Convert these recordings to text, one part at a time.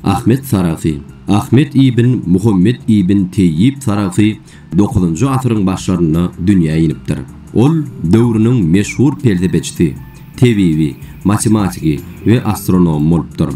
Ahmet Sarahsy. Ahmet ibn Muhammet ibn Teýýib Sarahsy dokuzynjy asyryň başlarynda dünýä inipdir. Ol döwrüniň meşhur pelsepeçisi, tebibi, matematigi we astronomy bolupdyr.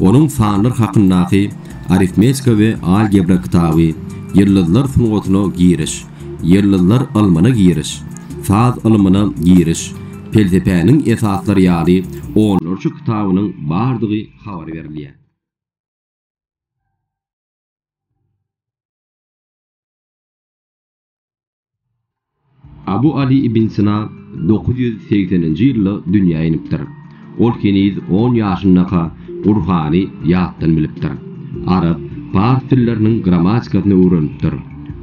Onuň Sanlar hakyndaky Arifmetika we algebra kitaby, Ýyldyzlar sungatyna giriş, Ýyldyzlar ylmyna giriş, Saz ylmyna giriş, Pelsepäniň esaslary ýaly onlarça kitabynyň bardygy habar berilýär. Abu Ali ibn Sina dokuz ýüz segseninji ýylda dünýä inipdir. Ol heniz on ýaşyndaka Gurhany ýatdan bilipdir. Arap, pars dilleriniň grammatikasyny öwrenipdir.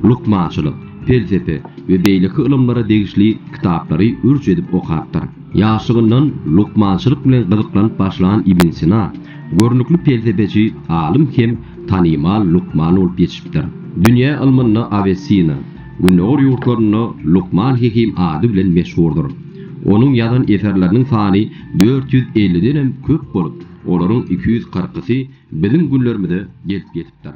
Lukmançylyk, pelsepe we beýleki ylymlara degişli kitaplary ürç edip okapdyr. Ýaşlygyndan lukmançylyk bilen gyzyklanyp başlan Ibn Sina görnükli pelsepeçi, alym hem tanymal lukman bolup ýetişipdir. Dünýä ylmynda Awesina, Gündogar ýurtlarynda Lukman Hekim ady bilen meşhurdyr. Onuň ýazan eserleriniň sany dört ýüz elliden hem köp bolup, olaryň iki ýüz kyrkysy biziň günlerimize gelip ýetipdir.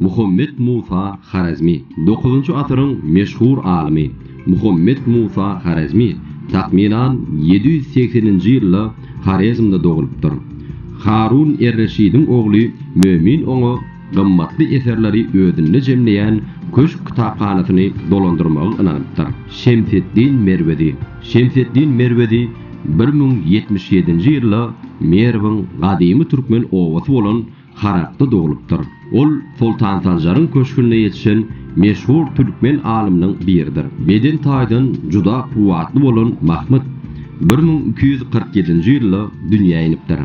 Muhammet Musa Horezmi, dokuzynjy asyryň meşhur alymy. Muhammet Musa Horezmi, takmynan, ýedi ýüz segseninji ýylda Horezmde dogulupdyr. Harun er-Reşidiň ogly Mömin oňa gymmatly eserleri özünde jemleýän köşk kitaphanasyny dolandyrmagy ynanypdyr. Şemseddin Merwezi, Şemseddin Merwezi bir müň ýetmiş ýedinji ýylda Merwiň gadymy türkmen obasy bolan Harapda doglupdyr. Ol Soltan Sanjaryň köşgünde ýetişen meşhur türkmen alymynyň biridir. Beden taýdan juda kuwwatly bolan Mahmyt bir müň iki ýüz kyrk ýedinji ýylda dünýä inipdir.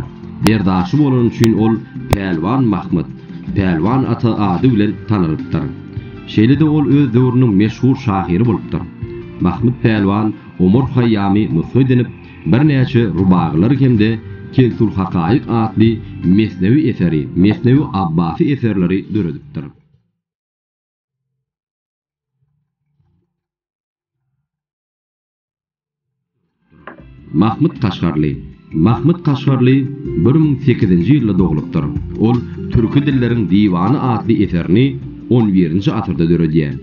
Berdaşy bolany üçin ol Pälwan Mahmyt, Pälwan ata ady bilen tanalypdyr. Şeýle-de ol öz döwrüniň meşhur şahyry bolupdyr. Mahmyt Pälwan Omar Haýýamy nusga edinip, Birnäçe rubagylar hem-de Kensülhakaýyk atly mesnewi eseri, Mesnewi Abbasy eserleri döredipdir. Mahmyt Kaşgarly Mahmyt Kaşgarly bir müň sekizinji ýylda doglupdyr. Ol Türki dilleriň diwany atly eserini on birinji asyrda döredýär.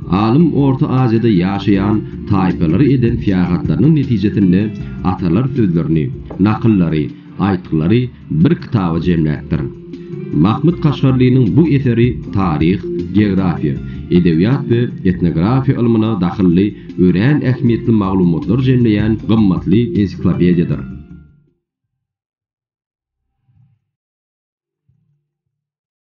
Alym Orta Aziýada ýaşaýan taýpalary eden syýahatlarynyň netijesinde atalar sözlerini, nakyllary, aýtgylary bir kitaba jemläpdir. Mahmyt Kaşgarlynyň bu eseri taryh, geografiýa, edebiýat we etnografiýa ylmyna dahylly örän ähmiýetli maglumatlary jemleýän gymmatly ensiklopediýadyr.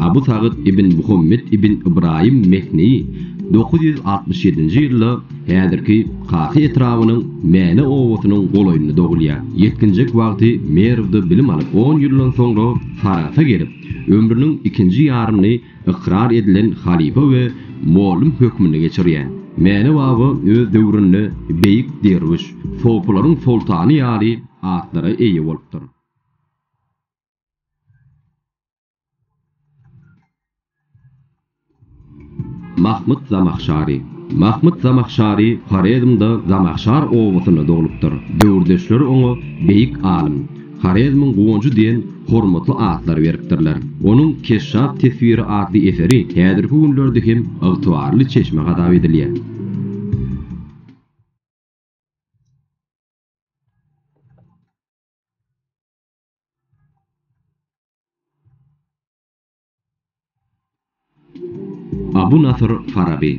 Abu Sagyt ibn Muhammet ibn Ybraýym Mehneýi dokuz ýüz altmyş ýedinji ýylda häzirki Kahy etrabynyň Mäne obasynyň golaýynda dogulýar. Ýetginjek wagty Merwde bilim alyp, on ýyldan soňra Sarahsa gelip, ömrüniň ikinji ýaryny ykrar edilen halypa we mollum hökmünde geçirýär. Mäne baba öz döwründe beýik derwüş, sopylaryň soltany ýaly atlara eýe bolupdyr. Mahmyt Zamahşary Mahmyt Zamahşary Horezmde Zamahşar obasynda doglupdyr. Döwürdeşleri oňa Beýik alym, Horezmiň guwanjy diýen hormatly atlary beripdirler. Onuň Keşşap teswiri atly eseri häzirki günlerde hem ygtybarly çeşme hasap edilýär. Abu Nasyr Faraby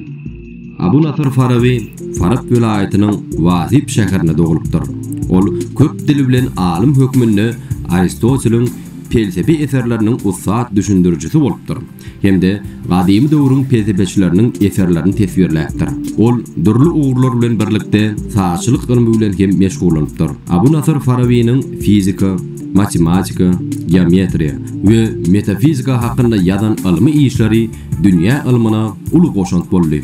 Abu Nasyr Faraby Farap welaýatynyň Wahib şäherinde doglup-dyr. Ol köp dil bilen alym hökmünde Aristoteliň pelsepe eserleriniň ussat düşündirijisi bolupdyr. hem-de gadymy döwrüň pelsepeçileriniň eserlerini teswirläpdir. Ol dürli ugurlar bilen birlikde sazçylyk ylmy bilen hem meşgullanypdyr. Abu Nasyr Farabynyň fizika, matematika, geometriýa we metafizika hakynda ýazan ylmy işleri dünýä ylmyna uly goşant boldy.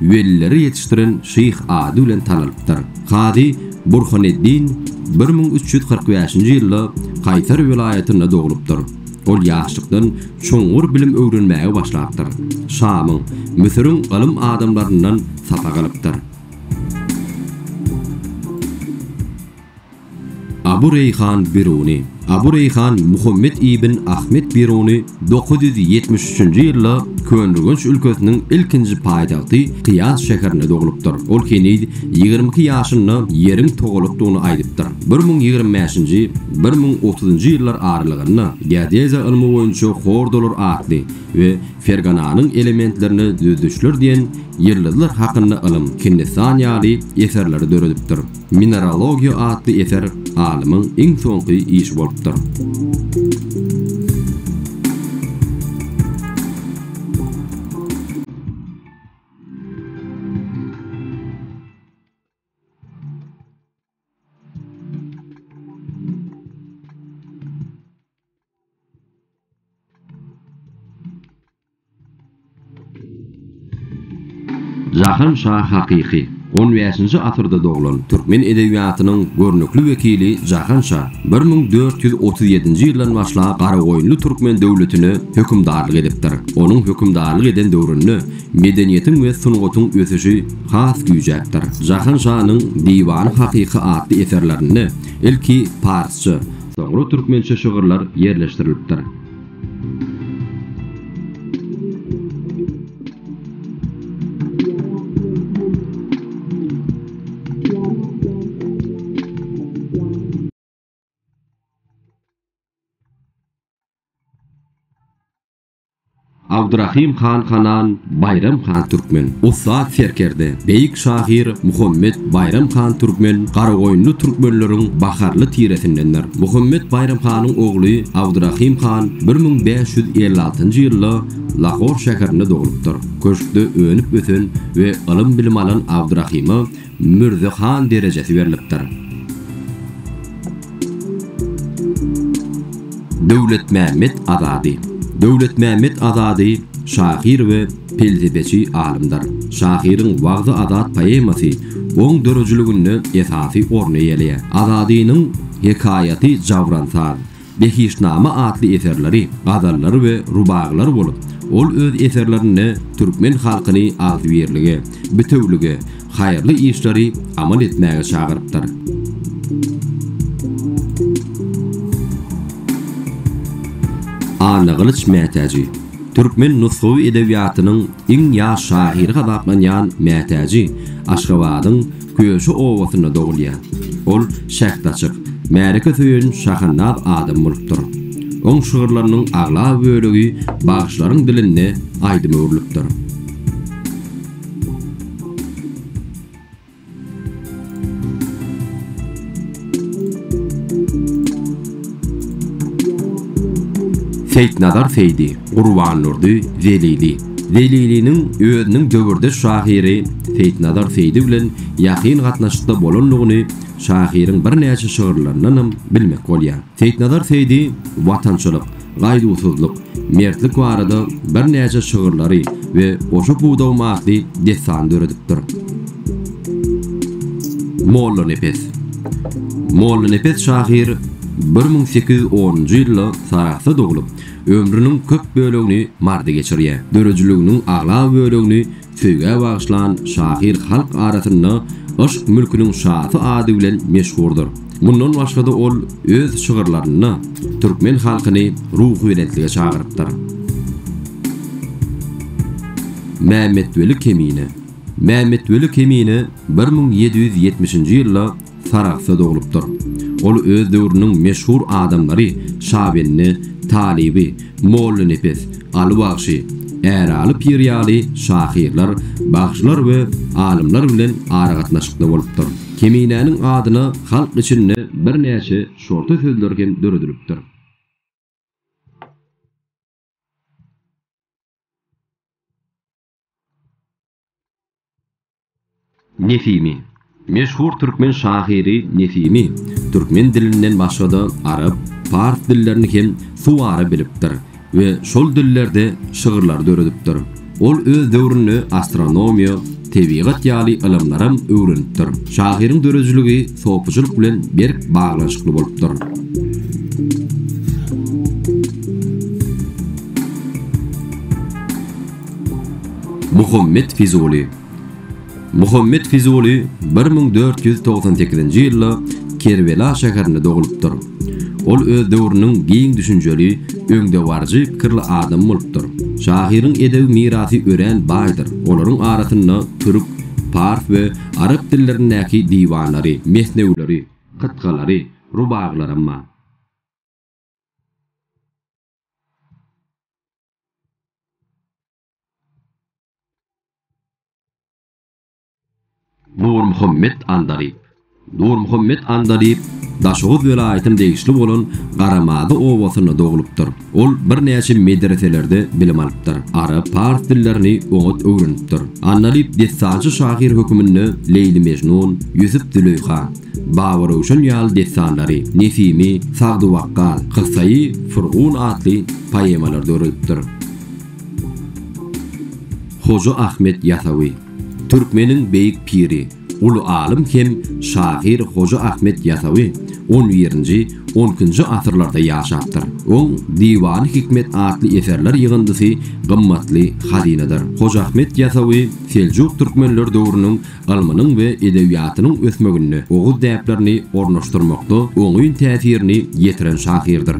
welileri ýetişdiren şyh ady bilen tanalypdyr. Kazy Burhaneddin bir müň üç ýüz kyrk bäşinji ýylda Kaýsar welaýatynda doglupdyr. Ol ýaşlykdan çuňňur bilim öwrenmäge başlapdyr. Şamyň, Müsüriň ylym adamlaryndan sapak alypdyr. Abu Reýhan Biruny. Abu Reýhan Muhammet ibn Ahmet Biruny dokuz ýüz ýetmiş üçünji ýylda Köneürgenç ülkesiniň ilkinji paýtagty Kyýas şäherinde doglupdyr. Ol heniz ýigrimi iki ýaşynda ýeriň togalakdygyny aýdypdyr. Bir müň ýigrimi bäşinji, bir müň otuzynjy ýyllar aralygynda geodeziýa ylmy boýunça hordalar atly we Fergananyň elementlerine düzedişler diýen ýyldyzlar hakynda ylym, Hindistan ýaly eserleri döredipdir. Mineralogiýa atly eser alymyň iň soňky işi bolupdyr. Jahan şa hakyky, on bäşinji asyrda doglan, türkmen edebiýatynyň görnükli wekili Jahan şa bir müň dört ýüz otuz ýedinji ýyldan başlap Garagoýunly türkmen döwletine hökümdarlyk edipdir. Onuň hökümdarlyk eden döwründe medeniýetiň we sungatyň ösüşi has güýjäpdir. Jahan şanyň Diwany hakyky atly eserlerinde ilki parsça, Soňra türkmençe şygyrlar ýerleşdirilipdir. Abdyrahym han Hanan, Baýram han Türkmen, ussat serkerde, beýik şahyr Muhammet Baýram han Türkmen Garagoýunly türkmenleriň baharly tiresindendir. Muhammet Baýram hanyň ogly Abdyrahym han bir müň bäş ýüz elli altynjy ýylda Lahor şäherinde doglupdyr. Köşkde önüp-ösen we ylym-bilim alan Abdyrahyma Mürze han derejesi berlipdir. Döwletmämmet Azady Döwletmämmet Azady şahyr we pelsepeçi alymdyr. Şahyryň Wagzy Azat poemasy oň döredijiliginde esasy orny eýeleýär. Azadynyň Hekaýaty Jawransaz, Behiştnama atly eserleri gazallar we rubagylar bolup, ol öz eserlerinde türkmen halkyny agzybirlige, bitewülige, haýyrly işleri amal etmäge çagyrypdyr. Annagylyç Mätäji Türkmen nusgawy edebiýatynyň iň ýaş şahyry hasaplanýan Mätäji Aşgabadyň Köşi obasynda dogulýar. Ol şähdaçyk, märeke söýen şahannaz adam bolupdyr. Oň şygyrlarynyň aglaba bölegi bagşylaryň dilinde aýdyma öwrülipdir. Seýitnazar Seýdi, Gurbandurdy Zelili. Zeliliniň özüniň döwürdeş şahyry Seýitnazar Seýdi bilen ýakyn gatnaşykda bolandygyny şahyryň birnäçe şygyrlaryndanam bilmek bolýar. Seýitnazar Seýdi watançylyk, gaýduwsyzlyk, mertlik barada birnäçe şygyrlary we Goşa pudagym atly dessany döredipdir. Mollanepes. Mollanepes şahyr bir müň sekiz ýüz onunjy ýylda Sarahsda doglup, Ömrüniň köp bölegini Maryda geçirýär. Döredijiliginiň aglaba bölegini söýgä bagyşlan şahyr halk arasynda Yşk mülküniň şasy ady bilen meşhurdyr. Mundan başga-da ol öz şygyrlarynda türkmen halkyny ruhubelentlige çagyrypdyr. Mämmetweli Kemine Mämmetweli Kemine bir müň ýedi ýüz ýetmişinji ýylda Sarahsda doglupdyr. Ol öz döwrüniň meşhur adamlary Şabende, Talyby, Mollanepes, Aly bagşy, Äraly pir ýaly şahyrlar, bagşylar we alymlar bilen aragatnaşykda bolupdyr. Keminäniň adyna halk içinde birnäçe şorta sözler hem döredilipdir. Nesimi. Meşhur türkmen şahyry Nesimi türkmen dilinden başga-da arap, pars dillerini hem suwara bilipdir we şol dillerde şygyrlar döredipdir. Ol öz döwründe astronomiýa, tebigat ýaly ylymlaram öwrenipdir. Şahyryň döredijiligi sopyjylyk bilen berk baglanyşykly bolupdyr. Muhammet Fizuly Muhammet Fizuly bir müň dört ýüz togsan sekizinji ýylda Kerbela şäherinde dogulypdyr. Ol öz döwrüniň giň düşünjeli, öňdebaryjy pikirli adamy bolupdyr. Şahyryň edebi mirasy örän baýdyr, olaryň arasynda türk, pars we arap dillerindäki diwanlary, mesnewileri, kytgalary, rubagylaram bar. Nurmuhammet Andalyp Nurmuhammet Andalyp Daşoguz welaýatyna degişli bolan Garamada obasynda doglupdyr. Ol birnäçe medreselerde bilim alypdyr. Arap, pars dillerini oňat öwrenipdir. Andalyp dessançy şahyr höküminde Leýli-Mejnun, Ýusup-Züleýha, Babaröwşen ýaly dessanlary, Nesimi, Sagdywakgal, Kyssaýy Furgun atly poemalary döredipdir. Hoja Ahmet Ýasawy. Türkmeniň beýik piri, uly alym hem şahyr Hoja Ahmet Ýasawy on birinji, on ikinji asyrlarda ýaşapdyr. Oň Diwany hikmet atly eserler ýygyndysy gymmatly hazynadyr. Hoja Ahmet Ýasawy seljuk türkmenler döwrüniň ylmynyň we edebiýatynyň ösmeginde oguz däplerini ornaşdyrmakda oňyn täsirini ýetiren şahyrdyr.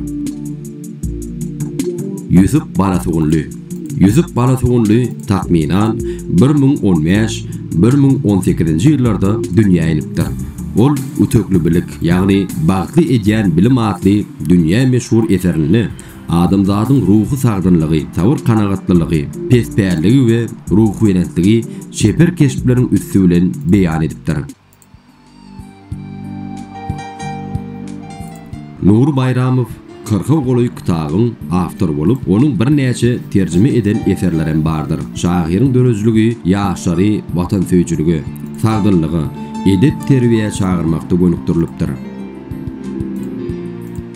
Ýüsüp Balasugunly Ýüsüp Balasugunly, takmynan, bir müň on bäş, bir müň on sekizinji ýyllarda dünýä inipdir. Ol Ütekli bilik, ýagny Bagtly edýän bilim atly dünýä meşhur eserinde, Adamzadyň ruhy sagdynlygy, sabyr-kanagatlylygy, pespäliligi we ruhubelentligi çeper keşpleriň üsti bilen beýan edipdir. Nury Baýramow kyrka golaý kitabyň awtory bolup, onuň birnäçe terjime eden eserleri hem bardyr. Şahyryň döredijiligi ýaşlary watansöýüjilige, sagdynlyga, edep-terbiýä çagyrmakda gönükdirilipdir.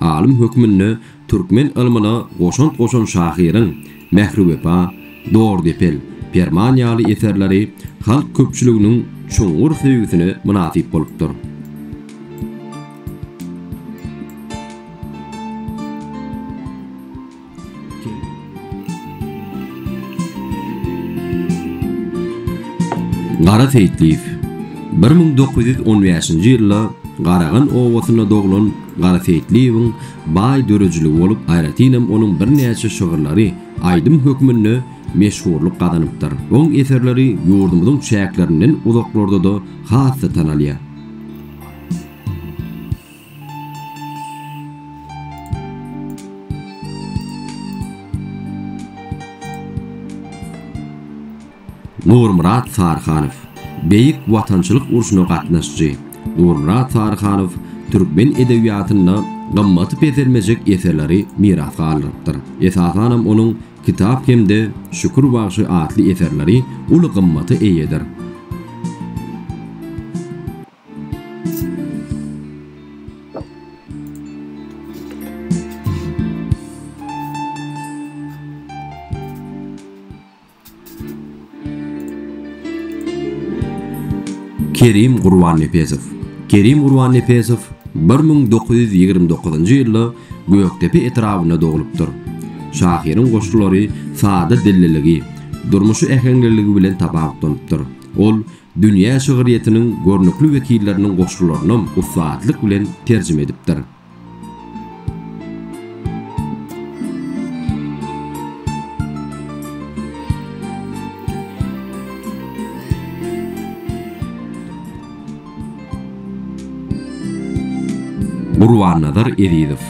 Alym hökmünde türkmen ylmyna goşant goşan şahyryň Mähriwepa, Dordepel, Perman ýaly eserleri halk köpçüliginiň çuňňur söýgüsine mynasyp bolupdyr. Gara Seýitliýew, bir müň dokuz ýüz on bäşinji ýylda Garagan obasynda doglan Gara Seýitliýewiň baý döredijiligi bolup, aýratynam onuň birnäçe şygyrlary aýdym hökmünde meşhurlyk gazanypdyr. Oň eserleri ýurdumyzyň çäklerinden uzaklarda-da has-da tanalýar. Nurmyrat Saryhanow, Beýik Watançylyk urşuna gatnaşyjy Nurmyrat Saryhanow türkmen edebiýatynda gymmaty peselmejek eserleri miras galdyrypdyr. Esasanam onuň Kitap hem-de Şükür bagşy atly eserleri uly gymmata eýedir. Kerim Gurbannepesow Kerim Gurbannepesow bir müň dokuz ýüz ýigrimi dokuzynjy ýylda Gökdepe etrabynda doglupdyr. Şahyryň goşgulary sada dilliligi, durmuşy äheňliligi bilen tapawutlanypdyr. Ol Dünýä şygyrýetiniň görnükli wekilleriniň goşgularynam ussatlyk bilen terjime edipdir. Gurbannazar Ezizow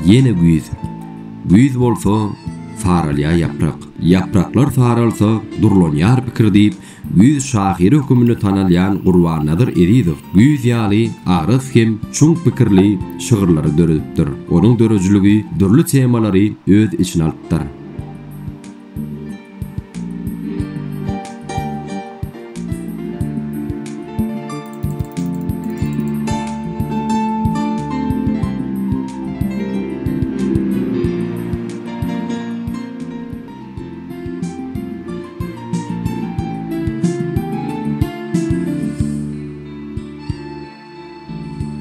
Ýene güýz Güýz bolsa, saralýar ýaprak, Ýapraklar saralsa, durlanýar pikir diýip, Güýz şahyry höküminde tanalýan Gurbannazar Ezizow güýz ýaly agyras hem çuň pikirli şygyrlary döredipdir. Onuň döredijiligi dürli temalary öz içine alypdyr.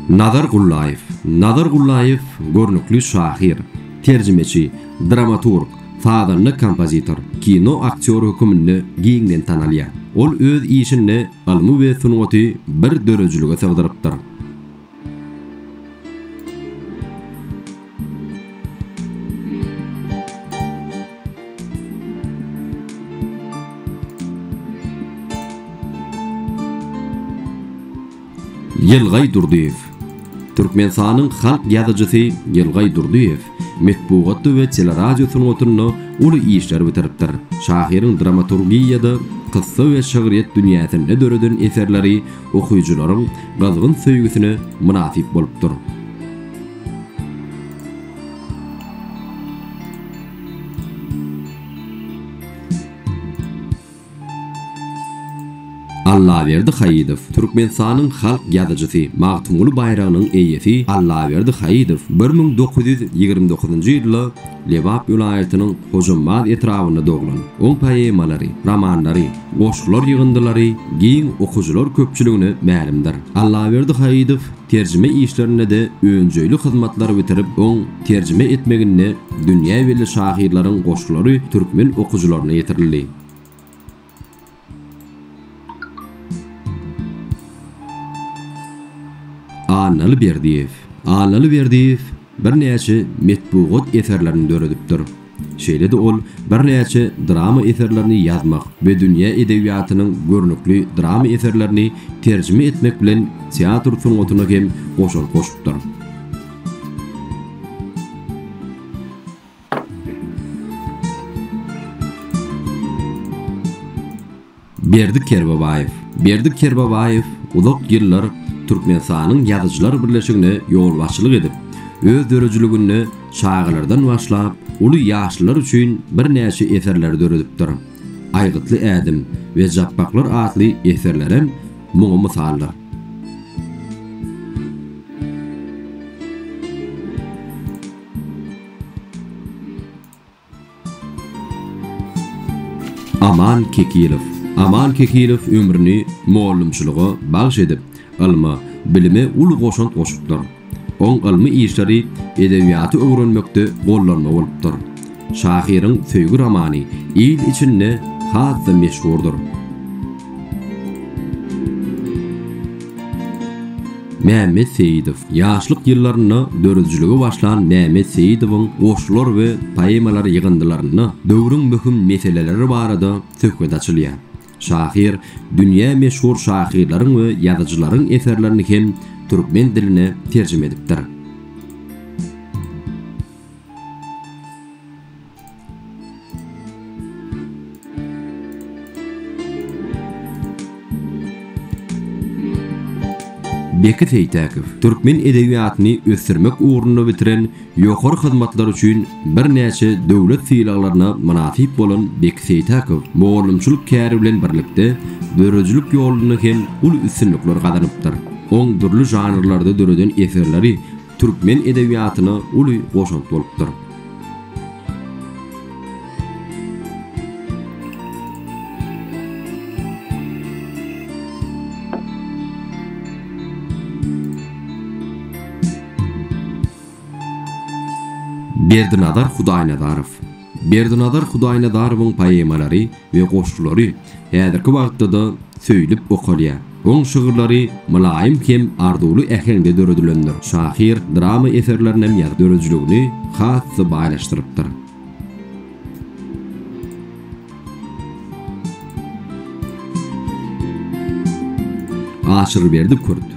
Nazar Gullaýew Nazar Gullaýew görnükli şahyr, terjimeçi, dramaturg, sazanda kompozitor, kino aktýory höküminde giňden tanalýar. Ol öz işinde ylmy we sungaty bir döredijilige sygdyrypdyr. Ýylgaý Durdyýew. Türkmenistanyň halk ýazyjysy Ýylgaý Durdyýew metbugatda we teleradio sungatynda uly işler bitiripdir. Şahyryň dramaturgiýada, kyssa we şygryýet dünýäsinde döreden eserleri okyjylaryň gyzgyn söýgüsine mynasyp bolupdyr. Allaberdi Haýydow, Türkmenistanyň halk ýazyjysy, Magtymguly baýragynyň eýesi Allaberdi Haýydow bir müň dokuz ýüz ýigrimi dokuzynjy ýylda Lebap welaýatynyň Hojambaz etrabynda doglan. Oň poemalary, romanlary, Goşgular ýygyndylary giň okyjylar köpçüligine mälimdir. Allaberdi Haýydow terjime işlerinde-de önjeýli hyzmatlary bitirip, oň terjime etmeginde dünýä belli şahyrlaryň goşgulary türkmen okyjylaryna ýetirildi. Annaly Berdiýew. Annaly Berdiýew Birnäçe metbugat eserlerini döredipdir. Şeýle-de ol birnäçe drama eserlerini ýazmak we dünýä edebiýatynyň görnükli drama eserlerini terjime etmek bilen teatr sungatyna hem goşant goşupdyr. Berdi Kerbabaýew Berdi Kerbabaýew uzak ýyllar Türkmenistanyň Ýazyjylar birleşigine ýolbaşçylyk edip, öz döredijiliginde çagalardan başlap, uly ýaşlylar üçin birnäçe eserleri döredipdir. Aýgytly ädim we Japbaklar atly eserlerem muňa mysaldyr. Aman Kekilow Aman Kekilow ömrüni mugallymçylyga bagyş edip, ylma, bilime uly goşant goşupdyr. Oň ylmy işleri edebiýaty öwrenmekde gollanma bolupdyr. Şahyryň söýgi romany il içinde has-da meşhurdyr. Mämmet Seýidow. Ýaşlyk ýyllarynda döredijilige başlan Mämmet Seýidowyň goşgular we poemalar ýygyndylarynda döwrüň möhüm meseleleri barada söhbet açylýar. Şahyr dünýä meşhur şahyrlaryň we ýazyjylaryň eserlerini hem türkmen diline terjime edipdir. Beki Seýtäkow türkmen edebiýatyny ösdürmek ugrunda bitiren ýokary hyzmatlary üçin birnäçe döwlet sylaglaryna mynasyp bolan Beki Seýtäkow mugallymçylyk käri bilen birlikde, döredijilik ýolunda hem uly üstünlikler gazanypdyr. Oň dürli žanrlarda döreden eserleri türkmen edebiýatyna uly goşant bolupdyr. Berdinazar Hudaýnazarow. Berdinazar Hudaýnazarowyň poemalary we goşgulary häzirki wagtda-da söýlüp okalýar. Oň şygyrlary mylaýym hem arzuwly äheňde döredilendir. Şahyr drama eserlerinem ýazyp, döredijiligini has-da baýlaşdyrypdyr. Aşyrberdi Kürt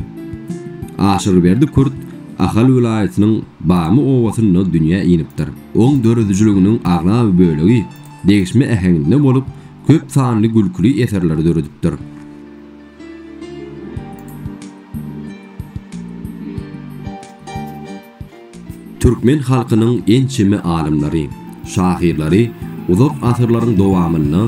Aşyrberdi Kürt Ahal welaýatynyň Bamy obasynda dünýä inipdir. Oň döredijiliginiň aglaba bölegi degişme äheňinde bolup, köp sanly gülküli eserleri döredipdir. Türkmen halkynyň ençeme alymlary, şahyrlary uzak asyrlaryň dowamynda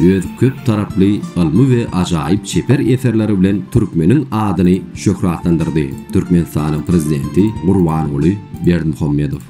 öz köp taraply ylmy we ajaýyp çeper eserleri bilen türkmeniň adyny şöhratlandyrdy, Türkmenistanyň Prezidenti Gurbanguly Berdimuhamedow.